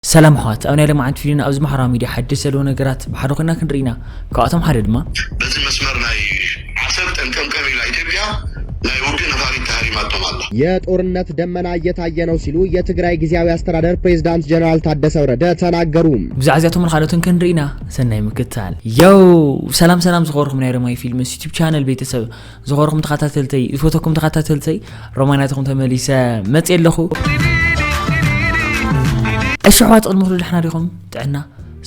ሰላም ኣሕዋት ኣብ ናይ ለማዓንቲ ቪድዮና ኣብዚ ማሕራዊ ሚድያ ሓድሽ ዘለዎ ነገራት ብሓደ ኮይና ክንርኢ ኢና ካብኣቶም ሓደ ድማ። በቲ መስመር ናይ ዓሰብ ጠንቀምቀም ኢላ ኢትዮጵያ ናይ ውግእ ነፋሪት ተሃሪማቶም ኣላ። የጦርነት ደመና እየታየ ነው ሲሉ የትግራይ ጊዜያዊ አስተዳደር ፕሬዝዳንት ጀነራል ታደሰ ወረደ ተናገሩ። ብዛዕባ እዚኣቶምን ካልኦትን ክንርኢ ኢና ሰናይ ምክትታል። ዮው ሰላም ሰላም ዝኸበርኩም ናይ ረማይ ፊልምስ ዩቱብ ቻነል ቤተሰብ ዝኸርኹም ተኸታተልተይ ዝፈተኩም ተኸታተልተይ ሮማናትኹም ተመሊሰ መፅ ኣለኹ እሺ ኣሕዋት ቅድሚ ኩሉ ድሕና ዲኹም ጥዕና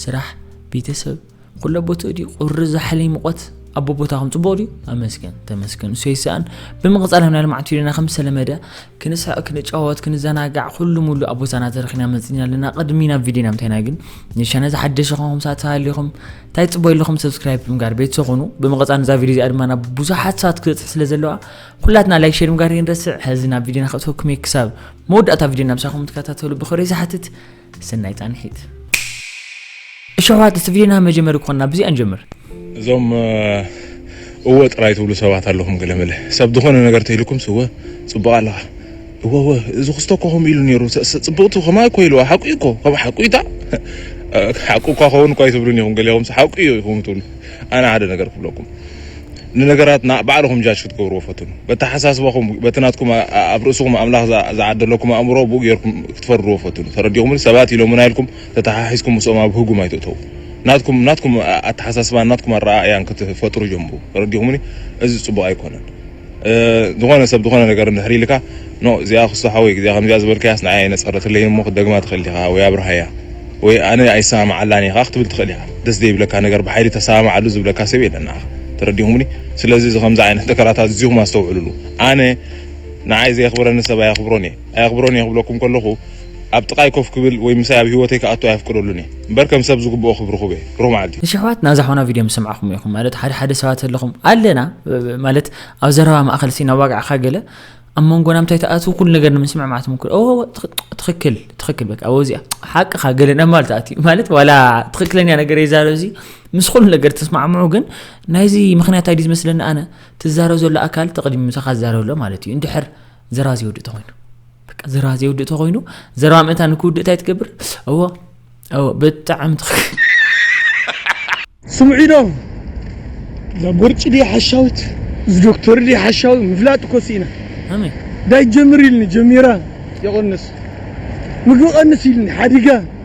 ስራሕ ቤተሰብ ኩሎ ቦትኡ ድዩ ቁሪ ዛሕሊ ሙቆት ኣቦ ቦታኹም ፅቡቅ ድዩ ኣመስገን ተመስገን እሱ ይሰኣን ብምቕፃል ህምና ልማዕት ዩልና ከም ዝተለመደ ክንስሕቅ ክንጫወት ክንዘናጋዕ ኩሉ ሙሉ ኣብ ቦታና ተረኪና መጺና ኣለና ቅድሚ ናብ ቪድዮና ምታይና ግን ንሻነ ዝሓደሽ ኹንኩም ሳት ሃሊኹም እንታይ ጽቦ ኣለኹም ሰብስክራይብ ብምጋር ቤተሰብ ኹኑ ብምቕጻል ነዛ ቪድዮ እዚኣ ድማ ናብ ብዙሓት ሳት ክትበጽሕ ስለ ዘለዋ ኩላትና ላይክ ሼር ምጋር ይንረስዕ ሕዚ ናብ ቪድዮና ክእተወኩም እየ ክሳብ መወዳእታ ቪድዮና ምሳኹም ትከታተሉ ብኽብሪ ዝሓትት ሰናይ ጻንሒት። እሺ ኣሕዋት እቲ ቪድዮና መጀመሪ ክኾና ብዚኣ ንጀምር። እዞም እወ ጥራይ ትብሉ ሰባት ኣለኹም ገለመለ ሰብ ዝኾነ ነገር ተኢልኩምስ እወ ጽቡቕ ኣለኻ እወ እወ እዚ ክስቶ እኮ ከምኡ ኢሉ ነይሩ ጽብቕቲ ከማይ እኮ ኢልዋ ሓቁ እዩ እኮ ከም ሓቁ እዩታ ሓቁ እኳ ከውን እኳ ኣይትብሉን ኢኹም ገሊኹምስ ሓቁ እዩ ኢኹም ትብሉ ኣነ ሓደ ነገር ክብለኩም ንነገራት ባዕልኹም ጃጅ ክትገብርዎ ፈትኑ። በተሓሳስባኹም በቲ ናትኩም ኣብ ርእስኹም ኣምላኽ ዝዓደለኩም ኣእምሮ ብኡ ጌርኩም ክትፈርድዎ ፈትኑ። ተረዲኹምኒ? ሰባት ኢሎሙና ኢልኩም ተተሓሒዝኩም ምስኦም ኣብ ህጉም ኣይትእተዉ። ናትኩም ናትኩም ኣተሓሳስባን ናትኩም ኣረኣእያን ክትፈጥሩ ጀምሩ። ተረዲኹምኒ? እዚ ጽቡቕ ኣይኮነን። ዝኾነ ሰብ ዝኾነ ነገር እንድሕር ኢልካ ን እዚኣ ክስቶ ሓወይ እዚኣ ከምዚኣ ዝበልካያስ ንዓይ ኣይነጸረትለይን እሞ ክትደግማ ትኽእል ዲኻ ወይ ኣብርሃያ ወይ ኣነ ኣይሰማማዓላን እየ ከኣ ክትብል ትኽእል ኢኻ ደስ ዘይብለካ ነገር ብሓይሊ ተሰማማዓሉ ዝብለካ ሰብ የለን ንዓኻ ተረዲኹምኒ ስለዚ እዚ ከምዚ ዓይነት ነገራት ኣዚኹም ኣስተውዕሉሉ ኣነ ንዓይ ዘየኽብረኒ ሰብ ኣየኽብሮን እየ ኣየኽብሮን እየ ክብለኩም ከለኹ ኣብ ጥቃይ ኮፍ ክብል ወይ ምሳይ ኣብ ሂወተይ ክኣቱ ኣየፍቅደሉን እየ እምበር ከም ሰብ ዝግብኦ ክብሪ ክህቦ እየ ብሩኽ መዓልቲ። እሺ ኣሕዋትና እዛ ሓውና ቪድዮ ምስ ሰማዕኩሞ ኢኩም ማለት ሓደ ሓደ ሰባት ኣለኹም ኣለና ማለት ኣብ ዘረባ ማእከል ሲ ናዋጋዕካ ገለ ኣብ መንጎና ምታይ ትኣትው ኩሉ ነገር ንምስምዕ ማለት ምኩር ኦ ትክክል ትክክል በቃ ኣብ እዚኣ ሓቅኻ ገለ ናብ ማለት ኣቲ ማለት ዋላ ትክክለኛ ነገር ይዛረብ እዚ ምስ ኩሉ ነገር ተስማዕምዑ ግን ናይዚ ምክንያት ኣይዲ ዝመስለኒ ኣነ ትዛረብ ዘሎ ኣካል ተቅዲሙ ምሳኻ ዝዛረብ ኣሎ ማለት እዩ እንድሕር ዘራዚ ወዲ ተኮይኑ በቃ ዘረባ ዘይውድእ ተኮይኑ ዘረባ ምእታ ንክውድእ እንታይ ትገብር እዎ እዎ ብጣዕሚ ስምዒዶ እዛ ቦርጭ ድያ ሓሻዊት እዚ ዶክተር ድያ ሓሻዊ ምፍላጥ እኮ ስኢና ኣመይ ዳይ ጀምር ኢልኒ ጀሚራ የቐንስ ምግቢ ቀንስ ኢልኒ ሓዲጋ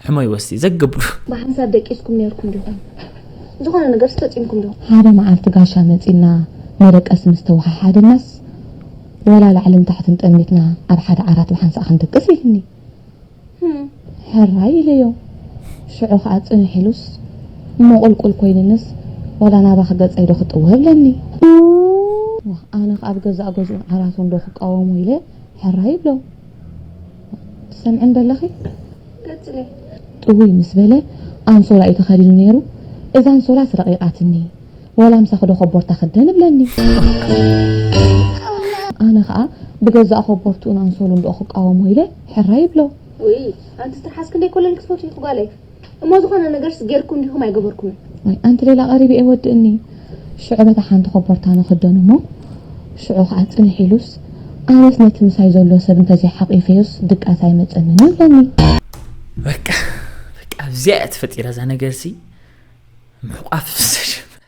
ሕሞይ ወስቲ ዘገብሉ። ብሓንሳብ ደቂስኩም ኔርኩም ዲኹም? ዝኾነ ነገርስ ፈጺምኩም ዶ? ሓደ መዓልቲ ጋሻ መጺእና መደቀሲ ምስ ተወሓሓደናስ፣ ወላ ላዕልን ታሕትን ጠሚትና ኣብ ሓደ ዓራት ብሓንሳእ ክንድቅስ ኢሉኒ። ህም! ሕራይ ኢለዮ። ሽዑ ከኣ ጽንሕ ኢሉስ፣ እሞ ቁልቁል ኮይኑንስ ወላ ናባኺ ገጸይ ዶ ክጥወ እብለኒ። ዋእ! ኣነኸ ኣብ ገዛእ ገዝኡን ዓራቱን ዶ ክቃወሞ ኢለ ሕራይ እብሎ። ትሰምዕን ደለኺ? ቀጽሊ። ጥውይ ምስ በለ ኣንሶላ እዩ ተኸዲኑ ነይሩ፣ እዛ ኣንሶላስ ረቒቓትኒ፣ ዋላ ምሳኺ ዶ ኮቦርታ ክደን? እብለኒ። ኣነ ኸኣ ብገዛእ ኮቦርትኡን ኣንሶሉን ዶ ክቃወሞ ኢለ ሕራይ እብሎ። ውይ ኣንትስ ትርሓስ ክንደይ ኮለል ክትፈትዊ ኢኺ ጓለይ። እሞ ዝኾነ ነገርስ ጌርኩም ዲኹም ኣይገበርኩምን? ዋይ ኣንቲ ሌላ ቀሪቢ እየ ወድእኒ ሽዑ በታ ሓንቲ ኮቦርታ ንኽደኖ እሞ ሽዑ ኸኣ ጽንሕ ኢሉስ ኣነስ ነቲ ምሳይ ዘሎ ሰብ እንተዘይሓቚፈዮስ ድቃስ ኣይመጸንን እዩ እብለኒ። በቃ በቃ ኣብዚኣ እያ ተፈጢራ እዛ ነገርሲ ምሕቋፍ ምስ ተጀመረ።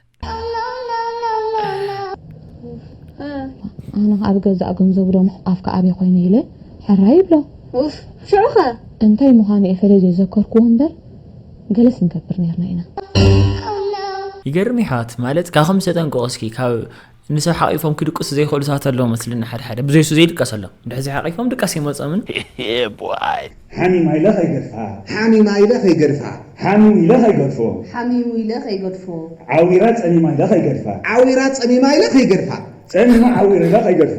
ኣነ ኣብ ገዛእ ገንዘቡ ደሞ ኣፍካ ኣበይ ኮይኑ ኢለ ሕራ ይብሎ ኡፍ ሽዑ ከ እንታይ ምዃኑ እየ ፈለይ ዘይዘከርክዎ እምበር ገለስ ንገብር ነርና ኢና። ይገርም ይሕዋት ማለት ካኩም ዝተጠንቀቁ እስኪ ካብ ንሰብ ሓቂፎም ክድቅሱ ዘይክእሉ ሰባት ኣለዉ መስልኒ ሓደ ሓደ ብዘይ እሱ ዘይድቀስ ኣሎ ድሕዚ ሓቂፎም ድቃስ ኣይመጾምን። Yeah boy! ሓሚማ ኢለ ከይገድፋ! ሓሚማ ኢለ ከይገድፋ! ሓሚሙ ኢለ ከይገድፎ! ሓሚሙ ኢለ ከይገድፎ! ዓዊራ ጸሚማ ኢለ ከይገድፋ! ዓዊራ ጸሚማ ኢለ ከይገድፋ! ጸሚማ ዓዊራ ኢለ ከይገድፎ!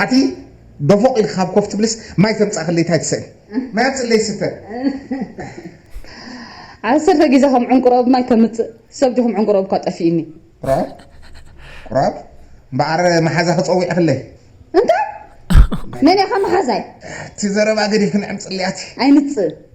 ኣቲ ዶፎቕ ኢልካ ካብ ኮፍ ትብልስ ማይ ተምጻእክለይ ታይ ትሰእን ማይ ኣምጽእለይ ስተ ዓሰርተ ግዜ ከም ዕንቁሮ ኣብ ማይ ከምጽእ ሰብ ዲኹም ዕንቁሮ እኳ ጠፊእኒ ቁራብ ቁራብ እምበኣር መሓዛ ክጸዊዕክለይ እንታይ መን ኢኻ መሓዛይ እቲ ዘረባ ገዲፍክን ዕምጽለይ ኣቲ ኣይምጽእ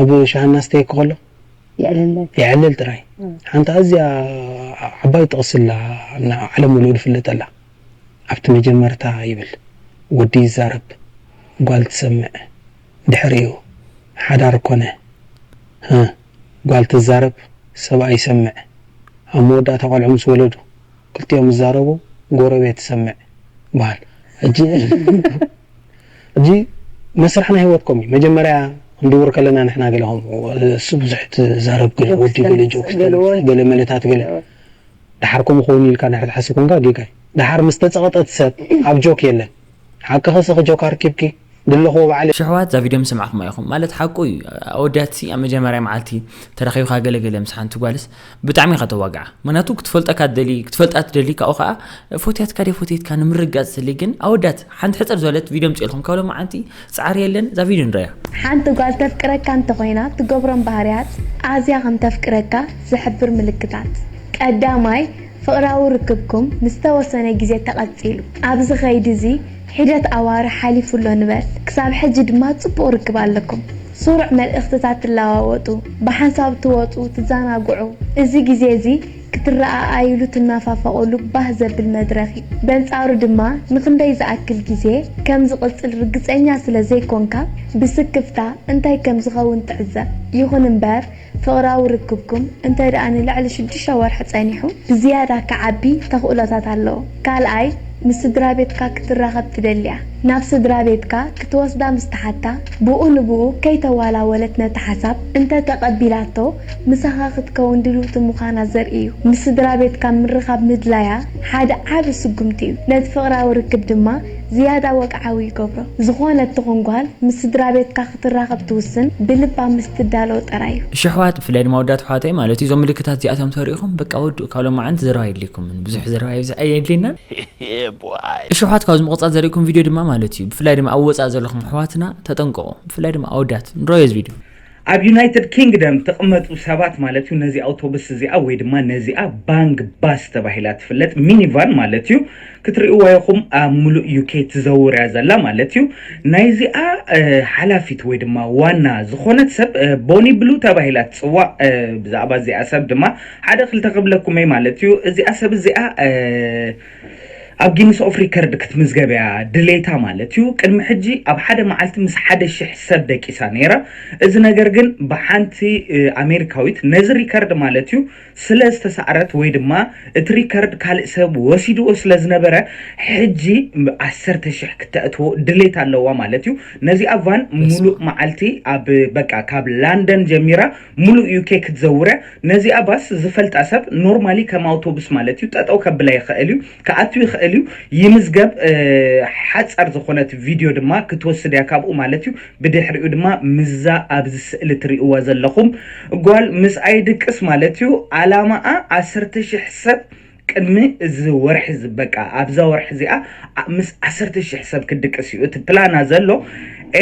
ኣብ ሸኣና ስተየኪ ከሎ የዕልል ጥራይ ሓንቲ ኣዝያ ዓባይ ጥቕሲ ኣላ ዓለም ሙሉእ ዝፍለጠላ ኣብቲ መጀመርታ ይብል ወዲ ይዛረብ ጓል ትሰምዕ ድሕሪኡ ሓዳር ኮነ ህ ጓል ትዛረብ ሰብኣይ ይሰምዕ ኣብ መወዳእታ ቆልዑ ምስ ወለዱ ክልቲኦም ይዛረቡ ጎረቤት ይሰምዕ በሃል ሕጂ እዚ መስርሕ ናይ ሂወትኩም እዩ መጀመርያ ክንድውር ከለና ንሕና ገለ ከምኡ እሱ ብዙሕ ትዛረብ ገለ ወዲ ገለ ጆክስ ተንፍስ ገለ መለታት ገለ ደሓር ከምኡ ክውን ኢልካ እንድሕር ትሓስብ ኮንካ ጌጋ እዩ ደሓር ምስ ተጸቕጠት ሰብ ኣብ ጆክ የለን ሓቅኺ ስኺ ጆክ ኣርኪብኪ ድለኽዎ ባዕለይ ሽሕዋት እዛ ቪድዮ ምስ ሰማዕኩማ ኢኹም ማለት ሓቁ እዩ ኣወዳትሲ ኣብ መጀመርያ መዓልቲ ተራኺብካ ገለ ገለ ምስ ሓንቲ ጓልስ ብጣዕሚ ኢኻ ተዋግዓ ምክንያቱ ክትፈልጠካ ትደሊ ክትፈልጣ ትደሊ ካብኡ ከዓ ፎትያትካ ደ ፎትየትካ ንምርጋፅ ትደሊ ግን ኣወዳት ሓንቲ ሕፅር ዝበለት ቪድዮ ምፅልኩም ካብ ሎማዓንቲ ፃዕሪ የለን እዛ ቪድዮ ንረያ ሓንቲ ጓል ተፍቅረካ እንተኾይና ትገብሮም ባህርያት ኣዝያ ከም ተፍቅረካ ዝሕብር ምልክታት ቀዳማይ ፍቕራዊ ርክብኩም ንዝተወሰነ ግዜ ተቐጺሉ ኣብዚ ከይዲ እዚ ሒደት ኣዋርሕ ሓሊፉ ኣሎ ንበል ክሳብ ሕጂ ድማ ጽቡቕ ርክብ ኣለኩም ስሩዕ መልእኽትታት ትለዋወጡ፣ ብሓንሳብ ትወጹ፣ ትዘናግዑ፣ እዚ ግዜ እዚ ክትረኣኣዩሉ ትናፋፈቑሉ ባህ ዘብል መድረኽ እዩ። በንጻሩ ድማ ንኽንደይ ዝኣክል ግዜ ከም ዝቕጽል ርግጸኛ ስለ ዘይኮንካ ብስክፍታ እንታይ ከም ዝኸውን ትዕዘብ። ይኹን እምበር ፍቕራዊ ርክብኩም እንተ ደኣ ንልዕሊ ሽዱሽተ ወርሒ ጸኒሑ፣ ብዝያዳ ክዓቢ ተኽእሎታት ኣለዎ። ካልኣይ፣ ምስ ስድራቤትካ ክትራኸብ ትደሊ'ያ። ናብ ስድራቤትካ ክትወስዳ ምስ ትሓታ፣ ብኡ ንብኡ ከይተዋላወለት ነቲ ሓሳብ እንተ ተቐቢላቶ፣ ምሳኻ ክትከውን ድልውቲ ምዃና ዘርኢ እዩ። ምስ ስድራቤትካ ምርኻብ ምድላያ ሓደ ዓቢ ስጉምቲ እዩ፣ ነቲ ፍቕራዊ ርክብ ድማ፣ ዝያዳ ወግዓዊ ይገብሮ። ዝኾነት ትኹን ጓል ምስ ስድራቤትካ ክትራኸብ ትውስን ብልባ ምስ ትዳሎ ጥራይ እዩ። እሺ ኣሕዋት ብፍላይ ድማ ኣወዳት ኣሕዋተይ ማለት እዩ እዞም ምልክታት እዚኣቶም እንተሪኢኹም በቃ ወድኡ ካብ ሎማዓንቲ ዘረባ የድልየኩምን ብዙሕ ዘረባ የብዝሕ ኣየድልየናን እሺ ኣሕዋት ካብዚ ምቕጻል ዘሪእኩም ቪድዮ ድማ ማለት እዩ ብፍላይ ድማ ኣብ ወጻኢ ዘለኹም ኣሕዋትና ተጠንቀቑ ብፍላይ ድማ ኣወዳት ንረኦ እዚ ቪድዮ ኣብ ዩናይትድ ኪንግደም እትቕመጡ ሰባት ማለት'ዩ፣ ነዚ ኣውቶቡስ እዚኣ ወይ ድማ ነዚኣ ባንግ ባስ ተባሂላ እትፍለጥ ሚኒቫን ማለት'ዩ፣ ክትርእይዋ ኢኹም ኣብ ምሉእ ዩኬ ትዘውር'ያ ዘላ ማለት'ዩ። ናይዚኣ ሓላፊት ወይ ድማ ዋና ዝኾነት ሰብ ቦኒ ብሉ ተባሂላ ትጽዋዕ። ብዛዕባ እዚኣ ሰብ ድማ ሓደ ክልተ ክብለኩም'የ ማለት'ዩ፣ እዚኣ ሰብ እዚኣ። ኣብ ጊንስ ኦፍ ሪከርድ ክትምዝገብ እያ ድሌታ ማለት እዩ። ቅድሚ ሕጂ ኣብ ሓደ መዓልቲ ምስ ሓደ ሽሕ ሰብ ደቂሳ ነይራ። እዚ ነገር ግን ብሓንቲ ኣሜሪካዊት ነዚ ሪከርድ ማለት እዩ ስለ ዝተሳዕረት ወይ ድማ እቲ ሪከርድ ካልእ ሰብ ወሲድዎ ስለ ዝነበረ ሕጂ ዓሰርተ ሽሕ ክተእትዎ ድሌት ኣለዋ ማለት እዩ። ነዚኣ ቫን በስመ ሙሉእ መዓልቲ ኣብ በቃ ካብ ላንደን ጀሚራ ሙሉእ ዩኬ ክትዘውርያ ነዚኣ ባስ ዝፈልጣ ሰብ ኖርማሊ ከም ኣውቶቡስ ማለት እዩ ጠጠው ከብላ ይክእል እዩ ክኣቱ ይክእል እዩ ይምዝገብ ሓጸር ዝኮነት ቪድዮ ድማ ክትወስድ እያ ካብኡ ማለት እዩ ብድሕሪኡ ድማ ምዛ ኣብዚ ስእሊ ትሪእዋ ዘለኩም ጓል ምስ ኣይድቅስ ማለት እዩ ኣላማኣ ዓሰርተ ሽሕ ሰብ ቅድሚ እዚ ወርሒ ዝበቃ ኣብዛ ወርሒ እዚኣ ኣ- ምስ ዓሰርተ ሽሕ ሰብ ክድቅስ እዩ እቲ ፕላና ዘሎ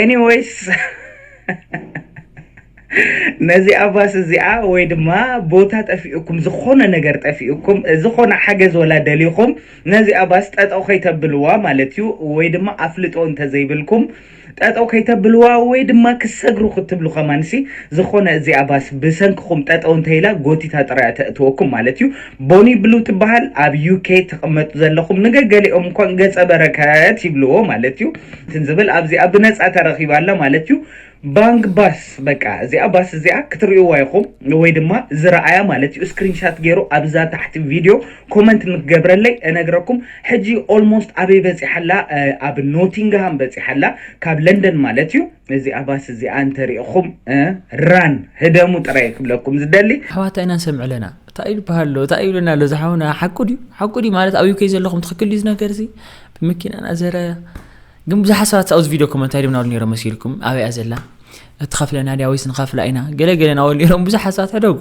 ኤኒዌይስ ነዚ ኣባስ እዚኣ ወይ ድማ ቦታ ጠፊኡኩም ዝኾነ ነገር ጠፊኡኩም ዝኾነ ሓገዝ ወላ ደሊኹም ነዚ ኣባስ ጠጠው ከይተብልዋ ማለት እዩ ወይ ድማ ኣፍልጦ እንተዘይብልኩም ጠጠው ከይተብልዋ ወይ ድማ ክሰግሩ ክትብሉ ከማንሲ ዝኾነ እዚኣ ባስ ብሰንክኹም ጠጠው እንተይላ ጎቲታ ጥራያ ተእትወኩም ማለት እዩ ቦኒ ብሉ ትበሃል ኣብ ዩኬ ትቕመጡ ዘለኹም ንገገሊኦም እንኳን ገጸ በረከት ይብልዎ ማለት እዩ ትንዝብል ኣብዚኣ ብነጻ ተረኺባ ኣላ ማለት እዩ ባንግ ባስ በቃ እዚኣ ባስ እዚኣ ክትርእይዋ ኢኹም ወይ ድማ ዝረኣያ ማለት እዩ ስክሪንሻት ገይሩ ኣብዛ ታሕቲ ቪድዮ ኮመንት ምገብረለይ እነግረኩም ሕጂ ኦልሞስት ኣበይ በጺሓ ኣላ ኣብ ኖቲንግሃም በጺሓ ኣላ ካብ ለንደን ማለት እዩ እዚኣ ባስ እዚኣ እንተሪእኹም ራን ህደሙ ጥራይ ክብለኩም ዝደሊ ኣሕዋታ ኢና ንሰምዕ ኣለና እንታይ ይበሃል ኣሎ እንታይ ይብለና ኣሎ ዝሓውና ሓቁ ድዩ ሓቁ ድዩ ማለት ኣብ ዩከይ ዘለኹም ትኽክል ድዩ ነገር እዚ ብመኪና ናዘረ ግን ብዙሓት ሰባት ኣብዚ ቪድዮ ኮመንት ኣይደም ናብሉ ነይሮም መሲልኩም ኣበይያ ዘላ እትኸፍለና ድያ ወይስ ንኸፍላ ኢና ገለገለ ናበሉ ነይሮም ብዙሓት ሰባት ሕደጉ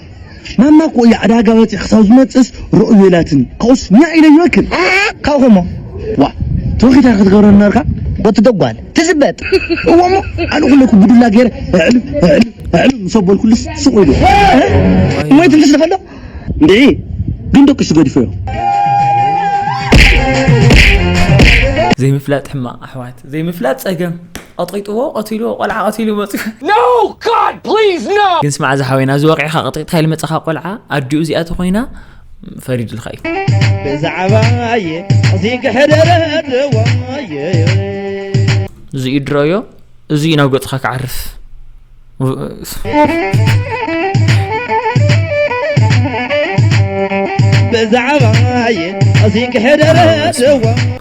ማማ እኮ እያ ዕዳጋ ወፂ ክሳብ ዝመፅእስ ርኡይ የላትን ካብኡስ ኛዕ ኢለ ይበክል ካብ ከምኡ ዋ ተወኺታ ክትገብረ ነርካ ወቲ ደጓል ትዝበጥ እዎ እሞ ኣነ ኩለኩ ብዱላ ገይረ ዕሉ ዕሉ ዕሉ ምስ ኣበልኩልስ ስቕ ኢሉ እሞ ይትንፍስ ደኸሎ እንድዒ ግን ደቂሱ ገድፈዮ ዘይምፍላጥ ሕማቕ ኣሕዋት ዘይምፍላጥ ፀገም ቐጢጥዎ ቐቲልዎ ቆልዓ ቐቲሉ መፅዩ No! God! Please! No! ግን ስማዕ ዝሓወይና እዚ ወቂዕካ ቀጥቂጥካ ኢሉ መጻኻ ቆልዓ ኣዲኡ እዚኣ ተኾይና ፈሪድልካ እዩ ብዛዕባየ እዚ ክሕደረድዋየ እዚዩ ድረዮ እዚዩ ናብ ገጽኻ ክዓርፍ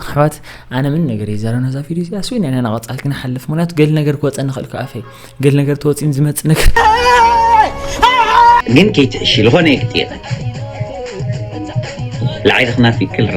ኣሕዋት ኣነ ምን ነገር እዩ ዘረና እዛ ቪድዮ እዚኣ ስዊን ኢና ናቐፃል ክንሓልፍ ምክንያቱ ገል ነገር ክወፀኒ ንኽእል ክኣ ኣፈይ ገል ነገር ተወፂን ዝመፅእ ነገር ግን ከይትዕሺ ዝኾነ እየ ክጥይቐ ላዕሊ ክናፊ ክልራ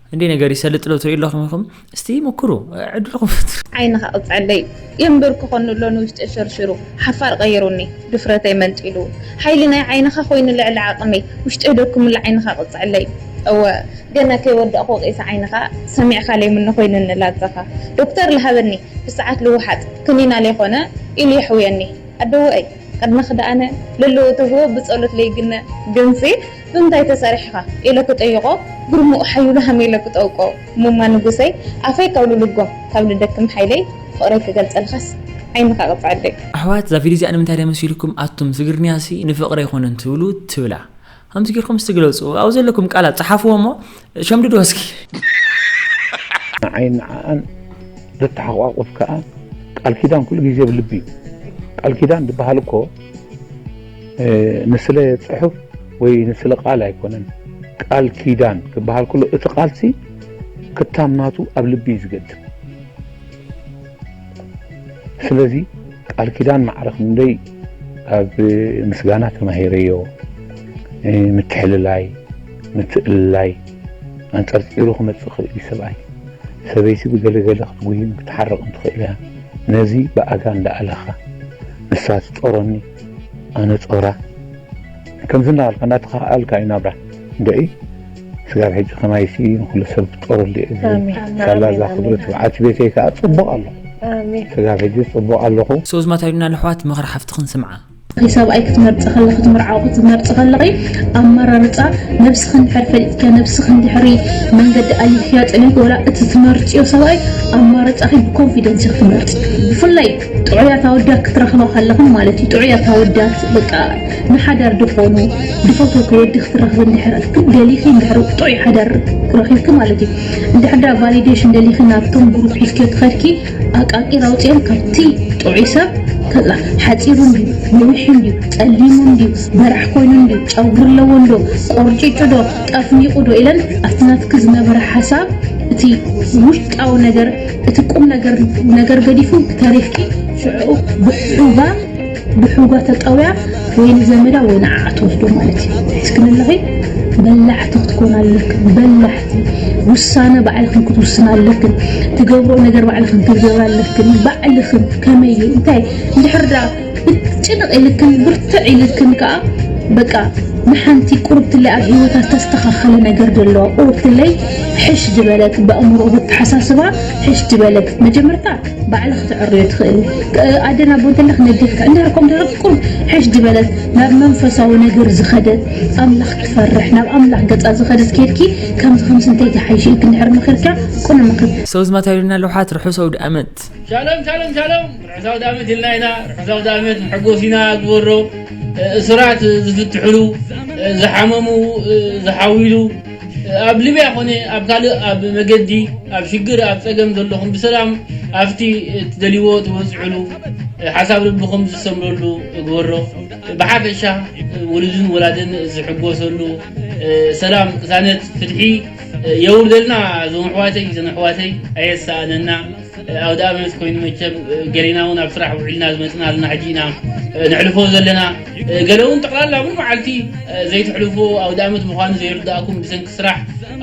እንዴ ነገር ይሰልጥ ዶ ትሪኡ ኣለኹም ኢኹም እስቲ ሙኩሩ ዕድልኹም ፍትሩ። ዓይንኻ ቅፅዐለይ የምብርክኾኒ ኣሎ ንውሽጠይ ሸርሺሩ ሓፋር ቀይሩኒ ድፍረተይ መንጢሉ ሓይሊ ናይ ዓይንኻ ኮይኑ ልዕሊ ዓቅመይ ውሽጠይ ደኩምሉ ዓይንኻ ቅፅዐለይ እወ ገና ከይወዳእኹ ወቂሰ ዓይንኻ ሰሚዕኻ ለይምኖ ኮይኑኒ ላዛኻ ዶክተር ልሃበኒ ብሰዓት ልውሓጥ ክኒና ለይኾነ ኢሉ የሕውየኒ ኣደወኣይ ቅድመ ክደኣነ ለለዎ ተህቦ ብፀሎት ለይግነ ግንሲ ብምንታይ ተሰሪሕኻ ኢለ ክጠይቆ ግርምኡ ሓዩሉ ሃም ኢለ ክጠውቆ እሙማ ንጉሰይ ኣፈይ ካብ ልልጎም ካብ ልደክም ሓይለይ ፍቕረይ ክገልጸልኻስ ዓይንኻ ቅጽዐለይ። ኣሕዋት እዛ ቪድዮ እዚኣ ንምንታይ ድያ መሲልኩም ኣቱም ትግርንያሲ ንፍቅሪ ኣይኮነን ትብሉ ትብላ ከምዚ ጌርኩም እስቲ ግለጹ ኣብኡ ዘለኩም ቃላት ጽሓፍዎ እሞ ሸምድዶ እስኪ ንዓይን ንዓኣን ዘተሓቋቁፍ ከኣ ቃል ኪዳን ኩሉ ግዜ ብ ልቢ እዩ ቃል ኪዳን ዝበሃል እኮ ንስለ ጽሑፍ ወይ ንስለ ቃል ኣይኮነን ቃል ኪዳን ክበሃል ከሎ እቲ ቃልሲ ክታም ናቱ ኣብ ልቢ እዩ ዝገድም ስለዚ ቃል ኪዳን ማዕረ ክንደይ ካብ ምስጋና ተማሂረዮ። ምትሕልላይ፣ ምትእልላይ ኣንጸርጺሩ ክመጽእ ይኽእል እዩ ሰብኣይ። ሰበይቲ ብገለ ገለ ክትጉይን ክትሓርቕን ትኽእል እያ። ነዚ ብኣጋ እንዳኣለኻ ንሳ ትጾረኒ ኣነ ጾራ ከምዚ እንዳበልካ እንዳተኻኣኣልካ እዩ ናብራ። እንድዒ! ስጋብ ሕጂ ከማይሲ ንኩሉ ሰብ ክፍጠረሉ እየ ዝብል ሳላ እዛ ክብሪ ትብዓት ቤተይ ከኣ ጽቡቅ ኣለኩ ስጋብ ሕጂ ጽቡቅ ኣለኩ። So ኣዝማት ኣይሉና ለሕዋት ምኽሪ ሓፍትኺ ንስምዓ። እቲ ሰብኣይ ክትመርጺ ከለኺ ትምርዓዊ ክትመርጺ ከለኺ ኣመራርጻ ነብስኺ እንድሕር ፈሊጥክያ ነብስኺ እንድሕሪ መንገዲ ኣሊኽክያ ጸኒሕኪ ወላ እቲ ትመርጽዮ ሰብኣይ ኣማርጻኺ ብኮንፊደንስ ኢኺ ትመርጺ ብፍላይ ጥዑያት ኣወዳት ክትረኽባ ከለኽን ማለት እዩ ጥዑያት ኣወዳት በቃ ንሓዳር ድኾኑ ድፈተውኩ ወዲ ክትረኽቢ እንድሕር ግን ደሊኺ እንድሕር ጥዑይ ሓዳር ረኺብኪ ማለት እዩ እንድሕር ዳ ቫሊዴሽን ደሊኺ ናብቶም ግሩፕ ሒዝኪዮ ትኸድኪ ኣቃቂር ኣውፅኦም ካብቲ ጥዑይ ሰብ ከላ ሓፂሩ እንድዩ ነዊሕ እንድዩ ፀሊሙ እንድዩ በራሕ ኮይኑ እንድዩ ጨጉሪ ኣለዎ እንዶ ቆርጭጩ ዶ ጠፍኒቑ ዶ ኢለን ኣብቲ ናትኪ ዝነበረ ሓሳብ እቲ ውሽጣዊ ነገር እቲ ቁም ነገር ነገር ገዲፉ ተሪፍኪ ሽዑ ብሑጋ ብሑጋ ተጠውያ ወይ ንዘመዳ ወይ ንዓዓ ትወስዶ ማለት እዩ እስኪ ንለኺ በላሕቲ ክትኮን ኣለክን በላሕቲ ውሳነ ባዕልክን ክትውስን ኣለክን ትገብሮ ነገር ባዕልክን ክትገብር ኣለክን ባዕልክን ከመይ እዩ እንታይ እንድሕር ጭንቕ ኢልክን ብርትዕ ኢልክን ከኣ በቃ ንሓንቲ ቁርብትለይ ኣብ ሂወታ ዝተስተኻኸለ ነገር ደለዋ ቁርብትለይ ሕሽ ዝበለት በእምሮ በተሓሳስባ ሕሽ ዝበለት መጀመርታ ባዕላ ክትዕርዮ ትኽእል ኣደን ኣቦ እንተለክ ነዴ ክትዕ እንድሕር ከም ድሕር ቁርብ ሕሽ ዝበለት ናብ መንፈሳዊ ነገር ዝኸደት ኣምላኽ ትፈርሕ ናብ ኣምላኽ ገጻ ዝኸደት ኬድኪ ከምዚ ከምዚ እንተይትሓይሽ ኢልክ እንድሕር መኺርኪያ ቁነ መኽሪ ሰው ዝማታ ይብለና ለውሓት ርሑስ ኣውድኣመት። ሻሎም ሻሎም ሻሎም ርሑስ ኣውዳመት ኢልና ኢና ርሑስ ኣውዳመት ንሐጎስ ኢና ግበሮ እሱራት ዝፍትሕሉ ዝሓመሙ ዝሓውይሉ ኣብ ሊብያ ኮነ ኣብ ካልእ ኣብ መገዲ ኣብ ሽግር ኣብ ጸገም ዘለኹም ብሰላም ኣብቲ ትደልይዎ ትበጽሑሉ ሓሳብ ልብኹም ዝሰምረሉ ግበሮ ብሓፈሻ ውሉድን ወላድን ዝሕጎሰሉ ሰላም ቅሳነት ፍትሒ የውርደልና እዞም ኣሕዋተይ እዘን ኣሕዋተይ ኣየሳእነና ኣውደኣመት ኮይኑ መቸም ገሊና እውን ኣብ ስራሕ ውዒልና ዝመፅና ኣለና ሕጂ ኢና ነሕልፎ ዘለና ገለ እውን ጠቕላላ እውን መዓልቲ ዘይትሕልፎ ኣውደኣመት ምዃኑ ዘይርዳእኩም ብሰንኪ ስራሕ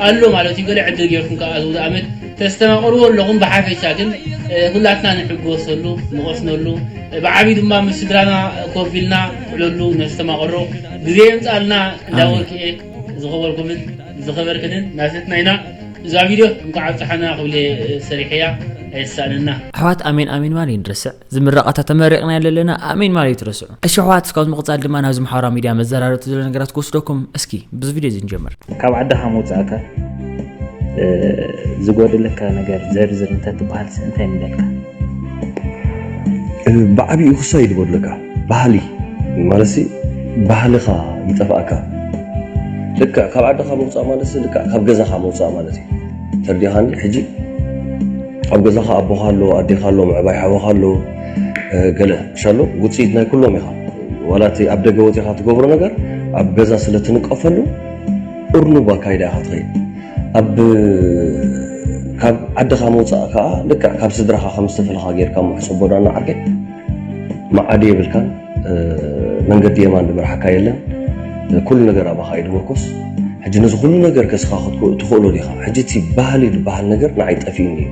ኣሎ ማለት እዩ ገለ ዕድል ጌርኩም ከዓ እዚ ኣውደኣመት ተስተማቕርዎ ኣለኹም ብሓፈሻ ግን ኩላትና ንሕጎሰሉ ንቐስነሉ ብዓብዪ ድማ ምስ ስድራና ኮፍ ኢልና ዕለሉ ነስተማቕሮ ግዜ የምፃልና እንዳወርክኤ ዝኸበርኩምን ዝኸበርክንን ናተትና ኢና እዛ ቪድዮ እንኳዕ ኣብፀሓና ክብለ ሰሪሐያ ኣይሳንና ኣሕዋት ኣሜን ኣሜን ማል ይንርስዕ ዝምረቓታ ተመሪቕና ኣለና ኣሜን ማል ይትረስዑ እሺ ኣሕዋት እስካብ ምቕፃል ድማ ናብዚ ማሕበራዊ ሚድያ መዘራረብቲ ዘሎ ነገራት ክወስደኩም እስኪ ብዚ ቪድዮ እዚ ንጀምር ካብ ዓድኻ ምውፃእካ ዝጎደለካ ነገር ዘርዝር እንተትበሃልሲ እንታይ ምበልካ ብዓብኡ ክሳይ ዝበለካ ባህሊ ማለትሲ ባህልኻ ይጠፍኣካ ልክዕ ካብ ዓድኻ ምውፃእ ማለትሲ ልክዕ ካብ ገዛኻ ምውፃእ ማለት እዩ ተርዲኻኒ ሕጂ ኣብ ገዛኻ ኣቦኻ ኣሎ ኣዴኻ ኣሎ ምዕባይ ሓወኻ ኣሎ ገለ ሻሎ ውፅኢት ናይ ኩሎም ኢኻ ዋላ እቲ ኣብ ደገ ወፂኻ ትገብሮ ነገር ኣብ ገዛ ስለ ትንቀፈሉ እርኑብ ኣካይዳ ኢኻ ትኸይድ ኣብ ካብ ዓድኻ ምውፃእ ከዓ ልክዕ ካብ ስድራኻ ከም ዝተፈለኻ ጌርካ ምሕፀቦ ዳና ዓርከይ መዓዲ የብልካን መንገዲ የማን ዝመርሓካ የለን ኩሉ ነገር ኣባኻ እዩ ዝምርኮስ ሕጂ ነዚ ኩሉ ነገር ከስኻ ክትትኽእሎ ዲኻ ሕጂ እቲ ባህሊ ዝበሃል ነገር ንዓይ ጠፊኡኒ እዩ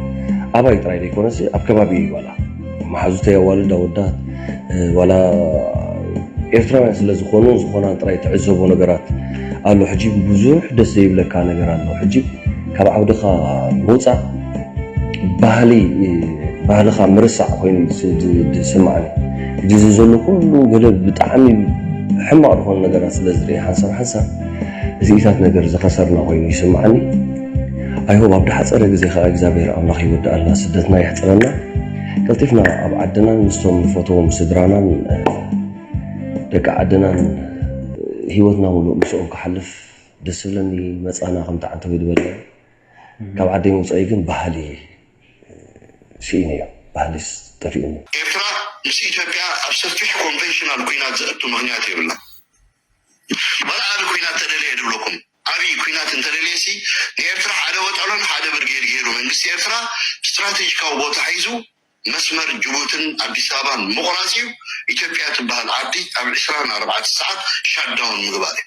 ኣባይ ጥራይ ዘይኮነሲ ኣብ ከባቢ እዩ ዋላ መሓዙተይ ኣዋልድ ኣወዳት ዋላ ኤርትራውያን ስለ ዝኾኑ ዝኾናን ጥራይ ትዕዘቦ ነገራት ኣሎ ሕጂ ብዙሕ ደስ ዘይብለካ ነገር ኣሎ ሕጂ ካብ ዓውድኻ ምውፃእ ባህሊ ባህልኻ ምርሳዕ ኮይኑ ዝስምዓኒ ሕጂ እዚ ዘሎ ኩሉ ገለ ብጣዕሚ ሕማቕ ዝኾኑ ነገራት ስለ ዝርኢ ሓንሳብ ሓንሳብ እዚኢታት ነገር ዝኸሰርና ኮይኑ ይስምዓኒ ኣይሆብ ኣብ ድሓፀረ ግዜ ከዓ እግዚኣብሔር ኣምላኽ ይወድኣልና ስደትና የሕፅረና ቀልጢፍና ኣብ ዓድናን ምስቶም ንፈትዎም ስድራናን ደቂ ዓድናን ሂወትና ምሉእ ምስኦም ክሓልፍ ደስ ዝብለኒ መፃና ከም ተዓንተው ይበለና ካብ ዓደይ ምውጻእይ ግን ባህሊ ስኢነ እዮ ባህሊ ጠፊኡኒ። ኤርትራ ምስ ኢትዮጵያ ኣብ ሰፊሕ ኮንቨንሽናል ኩናት ዘእቱ ምኽንያት የብላን ዋላ ኣቢ ኩናት ተደለየ ድብለኩም ኣቢ ኩናት እንተደልየሲ ንኤርትራ ሓደ ወጠሎን ሓደ ብርጌድ ጌሩ መንግስቲ ኤርትራ ስትራቴጂካዊ ቦታ ሒዙ መስመር ጅቡትን ኣዲስ ኣበባን ምቑራጽ እዩ ኢትዮጵያ ትብሃል ዓዲ ኣብ ዕስራን ኣርባዕተ ሰዓት ሻትዳውን ምግባር እዩ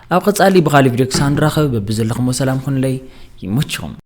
ኣብ ቐፃሊ ብኻሊእ ቪድዮ ክሳብ ንራኸብ በብዘለኹሞ ሰላም ኹኑለይ ይመችኹም።